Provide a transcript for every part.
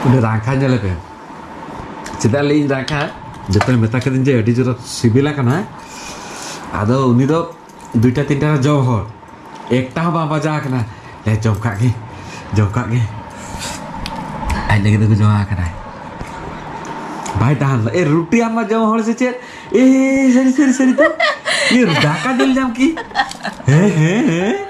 ᱩᱱᱤ ᱨᱟᱝᱠᱷᱟ ᱧᱮᱞᱮ ᱯᱮ ᱪᱮᱫᱟᱜ ᱞᱟᱹᱭᱤᱧ ᱨᱟᱝᱠᱷᱟ ᱡᱚᱛᱚᱧ ᱢᱮᱛᱟ ᱠᱟᱹᱫᱤᱧ ᱡᱮ ᱟᱹᱰᱤ ᱡᱳᱨ ᱥᱤᱵᱤᱞᱟ ᱠᱟᱱᱟ ᱟᱫᱚ ᱩᱱᱤ ᱫᱚ ᱫᱩᱭᱴᱟ ᱛᱤᱱᱴᱟ ᱨᱮ ᱡᱚᱢ ᱦᱚᱲ ᱮᱠᱴᱟ ᱦᱚᱸ ᱵᱟᱝ ᱵᱟᱡᱟᱣ ᱟᱠᱟᱱᱟ ᱞᱮ ᱡᱚᱢ ᱠᱟᱜ ᱜᱮ ᱡᱚᱢ ᱠᱟᱜ ᱜᱮ ᱟᱡ ᱞᱟᱹᱜᱤᱫ ᱫᱚᱠᱚ ᱡᱚᱢ ᱟᱠᱟᱱᱟᱭ ᱵᱟᱭ ᱛᱟᱦᱮᱱ ᱞᱮᱫᱟ ᱮ ᱨᱩᱴᱤ ᱟᱢ ᱢᱟ ᱡᱚᱢ ᱦᱚᱲ ᱥᱮ ᱪᱮᱫ ᱮ ᱥᱟᱹᱨᱤ ᱥᱟᱹᱨᱤ ᱥᱟᱹᱨᱤ ᱛᱚ ᱤᱭᱟᱹ ᱫᱟᱠᱟ ᱫᱩᱞ ᱧᱟᱢ ᱠᱤ ᱦᱮᱸ ᱦᱮᱸ ᱦᱮᱸ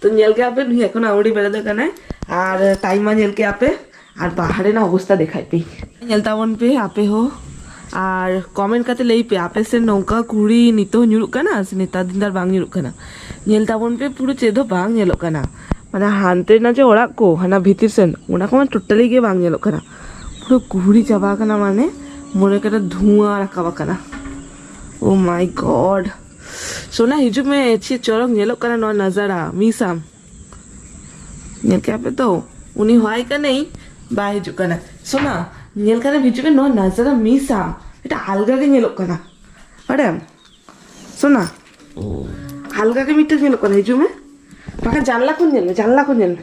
ᱛᱚ ᱧᱮᱞ ᱠᱮᱜᱼᱟ ᱯᱮ ᱱᱩᱭ ᱮᱠᱷᱚᱱ ᱟᱹᱣᱲᱤ ᱵᱮᱲᱟ ᱫᱚ ᱠᱟᱱᱟᱭ ᱟᱨ ᱴᱟᱭᱤᱢ ᱢᱟ ᱧᱮᱞ ᱠᱮᱜᱼᱟ ᱯᱮ ᱟᱨ ᱵᱟᱦᱟᱨ ᱨᱮᱱᱟᱜ ᱚᱵᱚᱥᱛᱟ ᱫᱮᱠᱷᱟᱭ ᱯᱮ ᱧᱮᱞ ᱛᱟᱵᱚᱱ ᱯᱮ ᱟᱯᱮ ᱦᱚᱸ ᱟᱨ ᱠᱚᱢᱮᱱᱴ ᱠᱟᱛᱮ ᱞᱟᱹᱭ ᱯᱮ ᱟᱯᱮ ᱥᱮ ᱱᱚᱝᱠᱟ ᱠᱩᱲᱤ ᱱᱤᱛᱚᱜ ᱧᱩᱨᱩᱜ ᱠᱟᱱᱟ ᱥᱮ ᱱᱮᱛᱟᱨ ᱫᱤᱱ ᱫᱟᱨ ᱵᱟᱝ ᱧᱩᱨᱩᱜ ᱠᱟᱱᱟ ᱧᱮᱞ ᱛᱟᱵᱚᱱ ᱯᱮ ᱯᱩᱨᱟᱹ ᱪᱮᱫ ᱦᱚᱸ ᱵᱟᱝ ᱧᱮᱞᱚᱜ ᱠᱟᱱᱟ ᱢᱟᱱᱮ ᱦᱟᱱᱛᱮ ᱨᱮᱱᱟᱜ ᱡᱮ ᱚᱲᱟᱜ ᱠᱚ ᱦᱟᱱᱟ ᱵᱷᱤᱛᱤᱨ ᱥᱮᱱ ᱚᱱᱟ ᱠᱚᱢᱟ ᱴᱳᱴᱟᱞᱤ ᱜᱮ ᱵᱟᱝ ᱧᱮᱞᱚᱜ ᱠᱟᱱᱟ ᱯᱩᱨᱟᱹ ᱠᱩᱦᱲᱤ ᱪᱟᱵᱟ ᱟᱠᱟᱱᱟ ᱢᱟᱱᱮ ᱢᱚᱱᱮ ᱠᱟᱱᱟ ᱫᱷᱩᱣᱟᱹ ᱨᱟᱠᱟᱵ ᱟᱠᱟᱱᱟ ᱳ ᱢᱟᱭ ᱜᱚᱰ ᱥᱳᱱᱟ ᱦᱤᱡᱩᱜ ᱢᱮ ᱪᱮᱫ ᱪᱚᱨᱚᱠ ᱧᱮᱞᱚᱜ ᱠᱟᱱᱟ ᱱᱚᱣᱟ ᱱᱟᱡᱟᱨᱟ ᱢᱤᱥ ᱟᱢ ᱧᱮᱞ ᱠᱮᱜᱼᱟ ᱯᱮ ᱛᱚ ᱩᱱᱤ ᱦᱚᱦᱟᱭ ᱠᱟᱹᱱᱟᱹᱧ ᱵᱟᱭ ᱦᱤᱡᱩᱜ ᱠᱟᱱᱟ ᱥᱳᱱᱟ ᱧᱮᱞ ᱠᱟᱱᱟ ᱦᱤᱡᱩᱜ ᱢᱮ ᱱᱚᱣᱟ ᱱᱟᱡᱟᱨᱟ ᱢᱤᱥ ᱟᱢ ᱢᱤᱫᱴᱟᱝ ᱟᱞᱜᱟ ᱜᱮ ᱧᱮᱞᱚᱜ ᱠᱟᱱᱟ ᱵᱟᱲᱟᱭᱟᱢ ᱥᱳᱱᱟ ᱟᱞᱜᱟ ᱜᱮ ᱢᱤᱫᱴᱟᱝ ᱧᱮᱞᱚᱜ ᱠᱟᱱᱟ ᱦᱤᱡᱩᱜ ᱢᱮ ᱵᱟᱠᱷᱟᱱ ᱡᱟᱱᱞᱟ ᱠᱷᱚᱱ ᱧᱮᱞ ᱢᱮ ᱡᱟᱱᱞᱟ ᱠᱷᱚᱱ ᱧᱮᱞ ᱢᱮ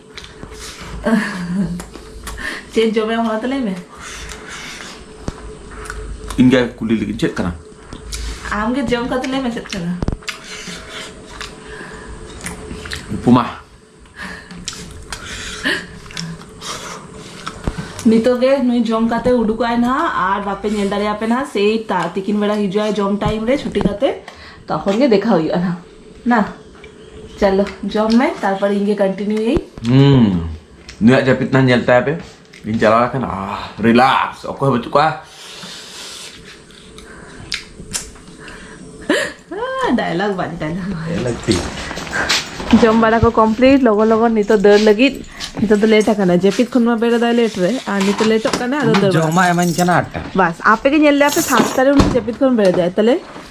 ᱪᱮᱫ ᱡᱚᱢᱮ ᱦᱚᱲ ᱛᱟᱞᱮ ᱢᱮ ᱤᱧᱜᱮ ᱠᱩᱞᱤ ᱞᱟᱹᱜᱤᱫ ᱪᱮᱫ ᱠᱟᱱᱟ ᱟᱢᱜᱮ ᱡᱚᱢ ᱠᱟᱛᱮ ᱞᱟᱹᱭ ᱢᱮ ᱪᱮᱫ ᱠᱟᱱᱟ ᱩᱯᱢᱟ ᱱᱤᱛᱚᱜ ᱜᱮ ᱱᱩᱭ ᱡᱚᱢ ᱠᱟᱛᱮ ᱩᱰᱩᱠᱚᱜ ᱟᱭ ᱱᱟᱦᱟᱜ ᱟᱨ ᱵᱟᱯᱮ ᱧᱮᱞ ᱫᱟᱲᱮᱭᱟᱯᱮ ᱱᱟᱦᱟᱜ ᱥᱮᱭ ᱛᱤᱠᱤᱱ ᱵᱮᱲᱟ ᱦᱤᱡᱩᱜ ᱟᱭ ᱡᱚᱢ ᱴᱟᱭᱤᱢ ᱨᱮ ᱪᱷᱩᱴᱤ ᱠᱟᱛᱮ ᱛᱚᱠᱷᱚᱱ ᱜᱮ ᱫᱮᱠᱷᱟ ᱦᱩᱭᱩᱜᱼᱟ ᱱᱟᱦᱟᱜ ᱱᱟ ᱪᱟᱞᱚ ᱡᱚᱢ ᱢᱮ ᱛᱟᱨᱯᱚᱨ ᱤᱧ ᱜᱮ ᱠᱚᱱᱴᱤᱱᱤᱭᱩ ᱭᱟᱹᱧ ᱦᱩᱸ ᱱᱩᱭᱟᱜ ᱡᱟᱹᱯᱤᱫ ᱱᱟ ᱧᱮᱞ ᱛᱟᱭ ᱯᱮ ᱤᱧ ᱪᱟᱞᱟᱣ ᱟᱠᱟᱱ ᱟ ᱨᱤᱞᱟᱠᱥ ᱚᱠᱚᱭ ᱵᱟᱹᱪᱩᱜ ᱠᱚᱣᱟ ᱰᱟᱭᱞᱚᱜ ᱵᱟᱡ ᱰᱟᱭᱞᱚᱜ ᱡᱚᱢ ᱵᱟᱲᱟ ᱠᱚ ᱠᱚᱢᱯᱞᱤᱴ ᱞᱚᱜᱚᱱ ᱞᱚᱜᱚᱱ ᱱᱤᱛᱚᱜ ᱫᱟᱹᱲ ᱞᱟᱹᱜᱤᱫ ᱱᱤᱛᱚᱜ ᱫᱚ ᱞᱮᱴ ᱟᱠᱟᱱᱟ ᱡᱟᱹᱯᱤᱫ ᱠᱷᱚᱱ ᱢᱟ ᱵᱮᱨᱮᱫ ᱟᱭ ᱞᱮᱴ ᱨᱮ ᱟᱨ ᱱᱤᱛᱚᱜ ᱞᱮᱴᱚᱜ ᱠᱟᱱᱟ ᱟᱫᱚ ᱫᱟᱹᱲ ᱡᱚᱢᱟ ᱮᱢᱟᱹᱧ ᱠᱟᱱᱟ ᱟᱴᱴᱟ ᱵᱟᱥ ᱟᱯᱮ ᱜᱮ ᱧᱮᱞ ᱞᱮᱭᱟ ᱯᱮ ᱥᱟᱛᱴᱟ ᱨᱮ ᱩᱱᱤ ᱡᱟᱹᱯᱤᱫ ᱠᱷᱚᱱ ᱵᱮᱨᱮᱫ ᱟᱭ ᱛᱟᱦᱞᱮ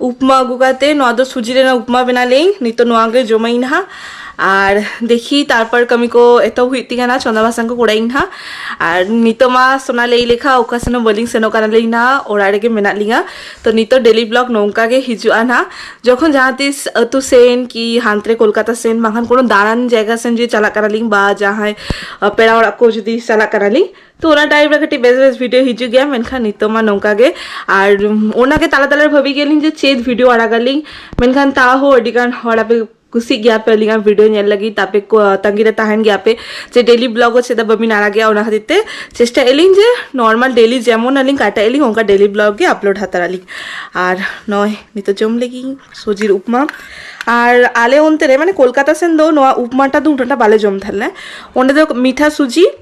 ᱩᱯᱢᱟ ᱟᱹᱜᱩ ᱠᱟᱛᱮ ᱱᱚᱣᱟ ᱫᱚ ᱥᱩᱡᱤ ᱨᱮᱱᱟᱜ ᱩᱯᱢᱟ ᱵᱮᱱᱟᱣ ᱞᱮᱭᱟᱹᱧ ᱱᱤᱛᱚᱜ ᱱᱚᱣᱟ ᱜᱮ ᱡᱚᱢᱟᱹᱧ ᱱᱟᱦᱟᱜ ᱟᱨ ᱫᱮᱠᱷᱤ ᱛᱟᱨᱯᱚᱨ ᱠᱟᱹᱢᱤ ᱠᱚ ᱮᱛᱚᱦᱚᱵ ᱦᱩᱭᱩᱜ ᱛᱤᱧᱟ ᱱᱟᱦᱟᱜ ᱪᱚᱸᱫᱟ ᱵᱟᱥᱟᱝ ᱠᱚ ᱠᱚᱨᱟᱣᱤᱧ ᱱᱟᱦᱟᱜ ᱟᱨ ᱱᱤᱛᱚᱜ ᱢᱟ ᱥᱚᱱᱟ ᱞᱟᱹᱭ ᱞᱮᱠᱷᱟ ᱚᱠᱟ ᱥᱮᱱ ᱦᱚᱸ ᱵᱟᱹᱞᱤᱧ ᱥᱮᱱᱚᱜ ᱠᱟᱱᱟ ᱞᱤᱧ ᱱᱟᱦᱟᱜ ᱚᱲᱟᱜ ᱨᱮᱜᱮ ᱢᱮᱱᱟᱜ ᱞᱤᱧᱟ ᱛᱚ ᱱᱤᱛᱚᱜ ᱰᱮᱞᱤ ᱵᱞᱚᱜ ᱱᱚᱝᱠᱟ ᱜᱮ ᱦᱤᱡᱩᱜᱼᱟ ᱱᱟᱦᱟᱜ ᱡᱚᱠᱷᱚᱱ ᱡᱟᱦᱟᱸ ᱛᱤᱥ ᱟᱹᱛᱩ ᱥᱮᱱ ᱠᱤ ᱦᱟᱱᱛᱮ ᱨᱮ ᱠᱳᱞᱠᱟᱛᱟ ᱥᱮᱱ ᱵᱟᱝᱠᱷᱟᱱ ᱠᱳᱱᱳ ᱫᱟᱬᱟᱱ ᱡᱟᱭᱜᱟ ᱥᱮᱱ ᱡᱩᱫᱤ ᱪᱟᱞᱟᱜ ᱠᱟᱱᱟ ᱞᱤᱧ ᱵᱟ ᱡᱟᱦᱟᱸᱭ ᱯᱮᱲᱟ ᱚᱲᱟᱜ ᱠᱚ ᱡᱩᱫᱤ ᱪᱟᱞᱟᱜ ᱠᱟᱱᱟ ᱞᱤᱧ ᱛᱚ ᱚᱱᱟ ᱴᱟᱭᱤᱢ ᱨᱮ ᱠᱟᱹᱴᱤᱡ ᱵᱮᱥ ᱵᱮᱥ ᱵᱷᱤᱰᱤᱭᱳ ᱦᱤᱡᱩᱜ ᱜᱮᱭᱟ ᱢᱮᱱᱠᱷᱟᱱ ᱱᱤᱛᱚᱜ ᱢᱟ ᱱᱚᱝᱠᱟ ᱜᱮ ᱟᱨ ᱚᱱᱟᱜᱮ ᱛᱟᱞᱟ ᱛᱟᱞᱟ ᱨᱮ ᱵᱷᱟᱹᱵᱤ ᱜᱮᱭᱟᱞᱤᱧ ᱡᱮ ᱪᱮᱫ ᱵᱷᱤᱰᱤᱭᱳ ᱟᱲᱟᱜᱟᱞᱤᱧ ᱢᱮᱱᱠᱷᱟᱱ ᱛᱟᱣ ᱦᱚᱸ ᱟᱹᱰᱤ ᱜᱟᱱ ᱦᱚᱲ ᱟᱯᱮ ᱠᱩᱥᱤᱜ ᱜᱮᱭᱟ ᱯᱮ ᱟᱹᱞᱤᱧᱟᱜ ᱵᱷᱤᱰᱤᱭᱳ ᱧᱮᱞ ᱞᱟᱹᱜᱤᱫ ᱛᱟᱯᱮ ᱠᱚ ᱛᱟᱺᱜᱤ ᱨᱮ ᱛᱟᱦᱮᱱ ᱜᱮᱭᱟ ᱯᱮ ᱡᱮ ᱰᱮᱞᱤ ᱵᱞᱚᱜ ᱦᱚᱸ ᱪᱮᱫᱟᱜ ᱵᱟᱹᱵᱤᱱ ᱟᱲᱟᱜᱮᱜᱼᱟ ᱚᱱᱟ ᱠᱷᱟᱹᱛᱤᱨ ᱛᱮ ᱪᱮᱥᱴᱟᱭ ᱟᱹᱞᱤᱧ ᱡᱮ ᱱᱚᱨᱢᱟᱞ ᱰᱮᱞᱤ ᱡᱮᱢᱚᱱ ᱟᱹᱞᱤᱧ ᱠᱟᱴᱟᱭ ᱟᱹᱞᱤᱧ ᱚᱱᱠᱟ ᱰᱮᱞᱤ ᱵᱞᱚᱜ ᱜᱮ ᱟᱯᱞᱳᱰ ᱦᱟᱛᱟᱲ ᱟᱹᱞᱤᱧ ᱟᱨ ᱱᱚᱜᱼᱚᱭ ᱱᱤᱛᱚᱜ ᱡᱚᱢ ᱞᱟᱹᱜᱤᱫ ᱥᱩᱡᱤᱨ ᱩᱯᱢᱟ ᱟᱨ ᱟᱞᱮ ᱚᱱᱛᱮ ᱨᱮ ᱢᱟᱱᱮ ᱠᱳᱞᱠᱟᱛᱟ ᱥᱮᱱ ᱫᱚ ᱱᱚᱣᱟ ᱩᱯᱢᱟᱴᱟ ᱫᱚ ᱩᱱᱟᱹᱜᱴᱟ ᱵᱟᱞᱮ ᱡᱚᱢ ᱛᱟᱦᱮᱸ ᱞᱮᱱᱟ ᱚᱸᱰᱮ ᱫᱚ ᱢᱤᱴᱷᱟ ᱥᱩᱡᱤ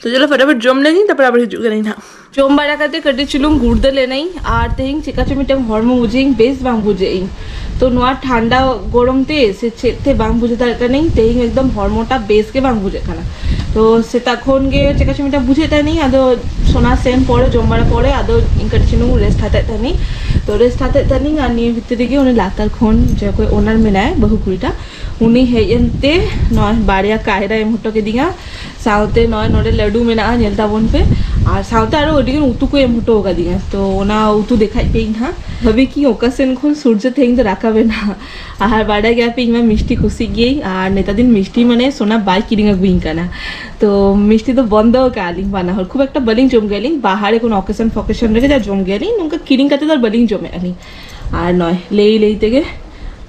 ᱛᱚ ᱪᱚᱞᱚ ᱯᱷᱚᱴᱟᱯᱷᱚᱴ ᱡᱚᱢ ᱞᱮᱱᱤᱧ ᱛᱟᱨᱯᱚᱨ ᱟᱵᱟᱨ ᱦᱤᱡᱩᱜ ᱠᱟᱹᱱᱟᱹᱧ ᱦᱟᱸᱜ ᱡᱚᱢ ᱵᱟᱲᱟ ᱠᱟᱛᱮ ᱠᱟᱹᱴᱤᱡ ᱪᱩᱞᱩᱝ ᱜᱩᱲᱫᱟᱹ ᱞᱮᱱᱟᱹᱧ ᱟᱨ ᱛᱮᱦᱮᱧ ᱪᱮᱠᱟ ᱪᱚ ᱢᱤᱫᱴᱟᱝ ᱦᱚᱲᱢᱚ ᱵᱩᱡᱷᱟᱹᱧ ᱵᱮᱥ ᱵᱟᱝ ᱵᱩᱡᱷᱟᱹᱜ ᱤᱧ ᱛᱚ ᱱᱚᱣᱟ ᱴᱷᱟᱱᱰᱟ ᱜᱚᱨᱚᱢ ᱛᱮ ᱥᱮ ᱪᱮᱫ ᱛᱮ ᱵᱟᱝ ᱵᱩᱡᱷᱟᱹᱣ ᱫᱟᱲᱮᱭᱟᱜ ᱠᱟᱹᱱᱟᱹᱧ ᱛᱮᱦᱮᱧ ᱮᱠᱫᱚᱢ ᱦᱚᱲᱢᱚᱴᱟ ᱵᱮᱥ ᱜᱮ ᱵᱟᱝ ᱵᱩᱡᱷᱟᱹᱜ ᱠᱟᱱᱟ ᱛᱚ ᱥᱮᱛᱟᱜ ᱠᱷᱚᱱ ᱜᱮ ᱪᱮᱠᱟ ᱪᱚ ᱢᱤᱫᱴᱟᱝ ᱵᱩᱡᱷᱟᱹᱜ ᱛᱟᱦᱮᱱᱤᱧ ᱟᱫᱚ ᱥᱚᱱᱟ ᱥᱮᱱ ᱯᱚᱨᱮ ᱡᱚᱢ ᱵᱟᱲᱟ ᱯᱚᱨᱮ ᱟᱫᱚ ᱤᱧ ᱠᱟᱹᱴᱤᱡ ᱪᱩᱞᱩᱝ ᱨᱮᱥᱴ ᱦᱟᱛᱟᱣᱮᱫ ᱛᱟᱦᱮᱱᱤᱧ ᱛᱚ ᱨᱮᱥᱴ ᱦᱟᱛᱟᱣᱮᱫ ᱛᱟᱦᱮᱱᱤᱧ ᱟᱨ ᱱᱤᱭᱟᱹ ᱵᱷᱤᱛᱨᱤ ᱨᱮᱜᱮ ᱩᱱᱤ ᱞᱟᱛᱟᱨ ᱠᱷᱚᱱ ᱡᱟᱦᱟᱸᱭ ᱚᱱᱟᱨ ᱢᱮᱱᱟᱭᱟ ᱵᱟᱹᱦᱩ ᱠᱩᱲᱤᱴᱟ ᱩᱱᱤ ᱦᱮᱡ ᱮᱱᱛᱮ ᱱᱚᱜᱼᱚᱭ ᱵᱟᱨᱭᱟ ᱠᱟᱭᱨᱟ ᱮᱢ ᱦᱚᱴᱚ ᱠᱮᱫᱤᱧᱟ ᱥᱟᱶᱛᱮ ᱱᱚᱜᱼᱚᱭ ᱱᱚᱰᱮ ᱞᱟᱹᱰᱩ ᱢᱮᱱᱟᱜᱼᱟ ᱧᱮᱞ ᱛᱟᱵᱚᱱ ᱯᱮ ᱟᱨ ᱥᱟᱶᱛᱮ ᱟᱨᱚ ᱟᱹᱰᱤ ᱜᱟᱱ ᱩᱛᱩ ᱠᱚ ᱮᱢ ᱦᱚᱴᱚ ᱟᱠᱟᱫᱤᱧᱟ ᱛᱚ ᱚᱱᱟ ᱩᱛᱩ ᱫᱮᱠᱷᱟᱡ ᱯᱮ ᱤᱧ ᱦᱟᱸᱜ ᱵᱷᱟᱹᱵᱤ ᱠᱤ ᱚᱠᱟ ᱥᱮᱱ ᱠᱷᱚᱱ ᱥᱩᱨᱡᱚ ᱛᱮᱦᱮᱧ ᱫᱚ ᱨᱟᱠᱟᱵ ᱮᱱᱟ ᱟᱨ ᱵᱟᱰᱟᱭ ᱜᱮᱭᱟ ᱯᱮ ᱤᱧ ᱢᱟ ᱢᱤᱥᱴᱤ ᱠᱩᱥᱤᱜ ᱜᱤᱭᱟᱹᱧ ᱟᱨ ᱱᱮᱛᱟᱨ ᱫᱤᱱ ᱢᱤᱥᱴᱤ ᱢᱟᱱᱮ ᱥᱚᱱᱟ ᱵᱟᱭ ᱠᱤᱨᱤᱧ ᱟᱹᱜᱩᱭᱤᱧ ᱠᱟᱱᱟ ᱛᱚ ᱢᱤᱥᱴᱤ ᱫᱚ ᱵᱚᱱᱫᱚ ᱟᱠᱟᱫ ᱟᱹᱞᱤᱧ ᱵᱟᱱᱟ ᱦᱚᱲ ᱠᱷᱩᱵ ᱮᱠᱴᱟ ᱵᱟᱹᱞᱤᱧ ᱡᱚᱢ ᱜᱮᱭᱟᱞᱤᱧ ᱵᱟᱦᱟᱨᱮ ᱠᱳᱱᱳ ᱚᱠᱮᱥᱚᱱ ᱯᱷᱚᱠᱮᱥᱚᱱ ᱨᱮᱜᱮ ᱡᱟ ᱡᱚᱢ ᱜᱮᱭᱟᱞᱤᱧ ᱱᱚᱝᱠᱟ ᱠᱤᱨᱤᱧ ᱠᱟᱛᱮ ᱫᱚ ᱵᱟᱹᱞᱤᱧ ᱡᱚᱢᱮᱫᱼᱟ ᱞᱤᱧ ᱟᱨ ᱱᱚᱜᱼᱚᱭ ᱞᱟᱹᱭ ᱞᱟᱹᱭ ᱛᱮᱜᱮ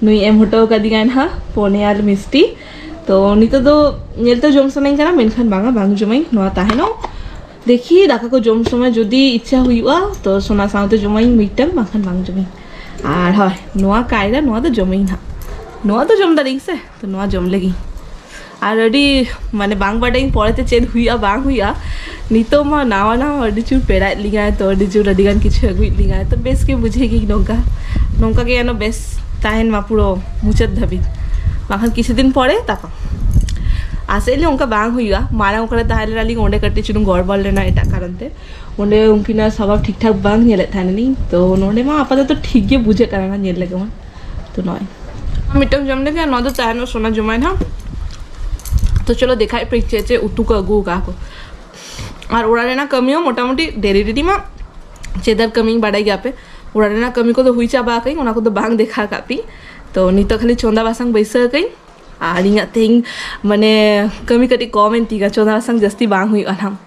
ᱱᱩᱭ ᱮᱢ ᱦᱚᱴᱚ ᱟᱠᱟᱫᱤᱧᱟᱭ ᱱᱟᱦᱟᱜ ᱯᱚᱱᱮ ᱟᱨ ᱢᱤᱥᱴᱤ ᱛᱚ ᱱᱤᱛᱚᱜ ᱫᱚ ᱧᱮᱞ ᱛᱮ ᱡᱚᱢ ᱥᱟᱱᱟᱧ ᱠᱟᱱᱟ ᱢᱮᱱᱠᱷᱟᱱ ᱵᱟᱝᱟ ᱵᱟᱝ ᱡᱚᱢᱟᱹᱧ ᱱᱚᱣᱟ ᱛᱟᱦᱮᱱᱚᱜ ᱫᱮᱠᱷᱤ ᱫᱟᱠᱟ ᱠᱚ ᱡᱚᱢ ᱥᱚᱢᱚᱭ ᱡᱩᱫᱤ ᱤᱪᱪᱷᱟ ᱦᱩᱭᱩᱜᱼᱟ ᱛᱚ ᱥᱚᱱᱟ ᱥᱟᱶᱛᱮ ᱡᱚᱢᱟᱹᱧ ᱢᱤᱫᱴᱟᱝ ᱵᱟᱝᱠᱷᱟᱱ ᱵᱟᱝ ᱡᱚᱢᱟᱹᱧ ᱟᱨ ᱦᱳᱭ ᱱᱚᱣᱟ ᱠᱟᱭᱨᱟ ᱱᱚᱣᱟ ᱫᱚ ᱡᱚᱢᱟᱹᱧ ᱱᱟᱦᱟᱜ ᱱᱚᱣᱟ ᱫᱚ ᱡᱚᱢ ᱫᱟᱲᱮᱭᱟᱜ ᱟᱹᱧ ᱥᱮ ᱛᱚ ᱱᱚᱣᱟ ᱡᱚᱢ ᱞᱟᱹᱜᱤᱫ ᱟᱨ ᱟᱹᱰᱤ ᱢᱟᱱᱮ ᱵᱟᱝ ᱵᱟᱰᱟᱭᱟᱹᱧ ᱯᱚᱨᱮᱛᱮ ᱪᱮᱫ ᱦᱩᱭᱩᱜᱼᱟ ᱵᱟᱝ ᱦᱩᱭᱩᱜᱼᱟ ᱱᱤᱛᱚᱜ ᱢᱟ ᱱᱟᱣᱟ ᱱᱟᱣᱟ ᱟᱹᱰᱤ ᱡᱳᱨ ᱯᱮᱲᱟᱭᱮᱫ ᱞᱤᱧᱟᱭ ᱛᱚ ᱟᱹᱰᱤ ᱡᱳᱨ ᱟᱹᱰᱤ ᱜᱟᱱ ᱠᱤᱪᱷᱩ ᱟᱹᱜᱩᱭᱮᱫ ᱞᱤᱧᱟᱭ ᱛᱚ ᱵᱮᱥ ᱜᱮ ᱵᱩᱡᱷᱟᱹᱣ ᱜᱮ ᱱᱚᱝᱠᱟ ᱱᱚᱝᱠᱟ ᱜᱮ ᱡᱮᱱᱚ ᱵᱮᱥ ᱛᱟᱦᱮᱱ ᱢᱟ ᱯᱩᱨᱟᱹ ᱢᱩᱪᱟᱹᱫ ᱫᱷᱟᱹᱵᱤᱡ ᱵᱟᱝᱠᱷᱟᱱ ᱠᱤᱪᱷᱩ ᱫᱤᱱ ᱯᱚᱨᱮ ᱛᱟᱯᱟᱢ ᱟᱥᱮᱜ ᱟᱹᱧ ᱚᱱᱠᱟ ᱵᱟᱝ ᱦᱩᱭᱩᱜᱼᱟ ᱢᱟᱲᱟᱝ ᱚᱠᱟᱨᱮ ᱛᱟᱦᱮᱸ ᱞᱮᱱᱟᱞᱤᱧ ᱚᱸᱰᱮ ᱠᱟᱹᱴᱤᱡ ᱪᱩᱞᱩᱝ ᱜᱚᱲᱵᱚᱲ ᱞᱮᱱᱟ ᱮᱴᱟᱜ ᱠᱟᱨᱚᱱ ᱛᱮ ᱚᱸᱰᱮ ᱩᱱᱠᱤᱱᱟᱜ ᱥᱚᱵᱷᱟᱵ ᱴᱷᱤᱠ ᱴᱷᱟᱠ ᱵᱟᱝ ᱧᱮᱞᱮᱫ ᱛᱟᱦᱮᱱᱟᱞᱤᱧ ᱛᱚ ᱱᱚᱸᱰᱮ ᱢᱟ ᱟᱯᱟᱛᱚᱛᱚ ᱴᱷᱤᱠ ᱜᱮ ᱵᱩᱡᱷᱟᱹᱜ ᱠᱟᱱᱟ ᱧᱮᱞ ᱞᱮᱠᱟ ᱢᱟ ᱛᱚ ᱱᱚᱜᱼᱚᱭ ᱢᱤᱫᱴᱟᱝ ᱡᱚᱢ ᱞᱮᱜᱮ ᱱᱚᱣᱟ ᱫᱚ ᱛᱟᱦᱮᱱ ᱥᱚᱱᱟ ᱡᱚᱢᱟᱭᱱᱟ ᱛᱚ ᱪᱚᱞᱚ ᱫᱮᱠᱷᱟᱭ ᱯᱮ ᱪᱮᱫ ᱪᱮᱫ ᱩᱛᱩ ᱠᱚ ᱟᱹᱜᱩ ᱟᱠᱟᱫ ᱠᱚ ᱟᱨ ᱚᱲᱟᱜ ᱨᱮᱱᱟᱜ ᱠᱟᱹᱢᱤ ᱦᱚᱸ ᱢᱚᱴᱟᱢᱩᱴᱤ ᱰᱮᱨᱤ ᱰᱮᱨᱤ ᱢᱟ ᱪᱮᱫᱟᱨ ᱠᱟᱹᱢᱤᱧ ᱵᱟᱰᱟᱭ ᱜᱮᱭᱟ ᱯᱮ ᱚᱲᱟᱜ ᱨᱮᱱᱟᱜ ᱠᱟᱹᱢᱤ ᱠᱚᱫᱚ ᱦᱩᱭ ᱪᱟᱵᱟ ᱟᱠᱟᱫᱟᱹᱧ ᱚᱱᱟ ᱠᱚᱫᱚ ᱵᱟᱝ ᱫᱮᱠᱷᱟ ᱟᱠᱟᱫ ᱯᱮ ᱛᱚ ᱱᱤᱛᱚᱜ ᱠᱷᱟᱹᱞᱤ ᱪᱚᱸᱫᱟ ᱵᱟᱥᱟᱝ ᱵᱟᱹᱭᱥᱟᱹᱣ ᱟᱠᱟᱹᱧ ᱟᱨ ᱤᱧᱟᱹᱜ ᱛᱮᱦᱮᱧ ᱢᱟᱱᱮ ᱠᱟᱹᱢᱤ ᱠᱟᱹᱴᱤᱡ ᱠᱚᱢ ᱮᱱ ᱛᱤᱧᱟᱹ ᱪᱚᱸᱫᱟ ᱵᱟᱥᱟᱝ ᱡᱟᱹᱥᱛᱤ ᱵᱟᱝ ᱦᱩᱭᱩᱜᱼᱟ ᱱᱟᱦᱟᱜ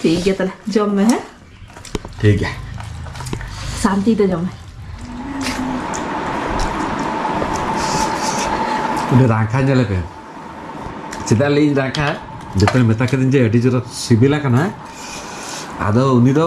ᱴᱷᱤᱠ ᱜᱮᱭᱟ ᱛᱟᱦᱞᱮ ᱡᱚᱢ ᱢᱮ ᱦᱮᱸ ᱴᱷᱤᱠ ᱜᱮᱭᱟ ᱥᱟᱱᱛᱤ ᱛᱮ ᱡᱚᱢ ᱢᱮ ᱚᱸᱰᱮ ᱨᱟᱝᱠᱷᱟ ᱧᱮᱞ ᱯᱮ ᱪᱮᱫᱟᱜ ᱞᱟᱹᱭᱟᱹᱧ ᱨᱟᱝᱠᱷᱟ ᱡᱚᱛᱚᱧ ᱢᱮᱛᱟ ᱠᱤᱫᱟᱹᱧ ᱡᱮ ᱟᱹᱰᱤ ᱡᱳᱨ ᱥᱤᱵᱤᱞ ᱟᱠᱟᱱᱟ ᱟᱫᱚ ᱩᱱᱤ ᱫᱚ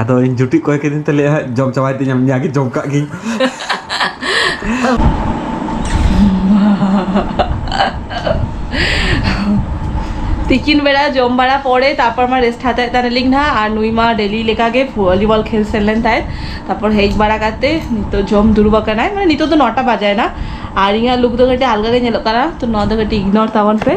ᱟᱫᱚ ᱤᱧ ᱡᱩᱴᱤ ᱠᱚᱭ ᱠᱤᱫᱤᱧ ᱛᱮ ᱞᱟᱹᱭᱟ ᱡᱚᱢ ᱪᱟᱵᱟᱭ ᱛᱤᱧ ᱟᱢ ᱧᱟᱜᱮ ᱡᱚᱢ ᱠᱟᱜ ᱜᱤᱧ ᱛᱤᱠᱤᱱ ᱵᱮᱲᱟ ᱡᱚᱢ ᱵᱟᱲᱟ ᱯᱚᱨᱮ ᱛᱟᱨᱯᱚᱨ ᱢᱟ ᱨᱮᱥᱴ ᱦᱟᱛᱟᱣ ᱮᱫ ᱛᱟᱦᱮᱱᱟᱞᱤᱧ ᱱᱟᱦᱟᱜ ᱟᱨ ᱱᱩᱭ ᱢᱟ ᱰᱮᱞᱤ ᱞᱮᱠᱟᱜᱮ ᱵᱷᱚᱞᱤᱵᱚᱞ ᱠᱷᱮᱞ ᱥᱮᱱ ᱞᱮᱱ ᱛᱟᱦᱮᱸᱫ ᱛᱟᱨᱯᱚᱨ ᱦᱮᱡ ᱵᱟᱲᱟ ᱠᱟᱛᱮ ᱱᱤᱛᱚᱜ ᱡᱚᱢ ᱫᱩᱲᱩᱵ ᱟᱠᱟᱱᱟᱭ ᱢᱟᱱᱮ ᱱᱤᱛᱚᱜ ᱫᱚ ᱱᱚᱴᱟ ᱵᱟᱡᱟᱭᱮᱱᱟ ᱟᱨ ᱤᱧᱟᱹᱜ ᱞᱩᱠ ᱫᱚ ᱠᱟᱹᱴᱤᱡ ᱟᱞᱜᱟ ᱜᱮ ᱧᱮᱞᱚᱜ ᱠᱟᱱᱟ ᱛᱚ ᱱᱚᱣᱟ ᱫᱚ ᱠᱟᱹᱴᱤᱡ ᱤᱜᱱᱳᱨ ᱛᱟᱵᱚᱱ ᱯᱮ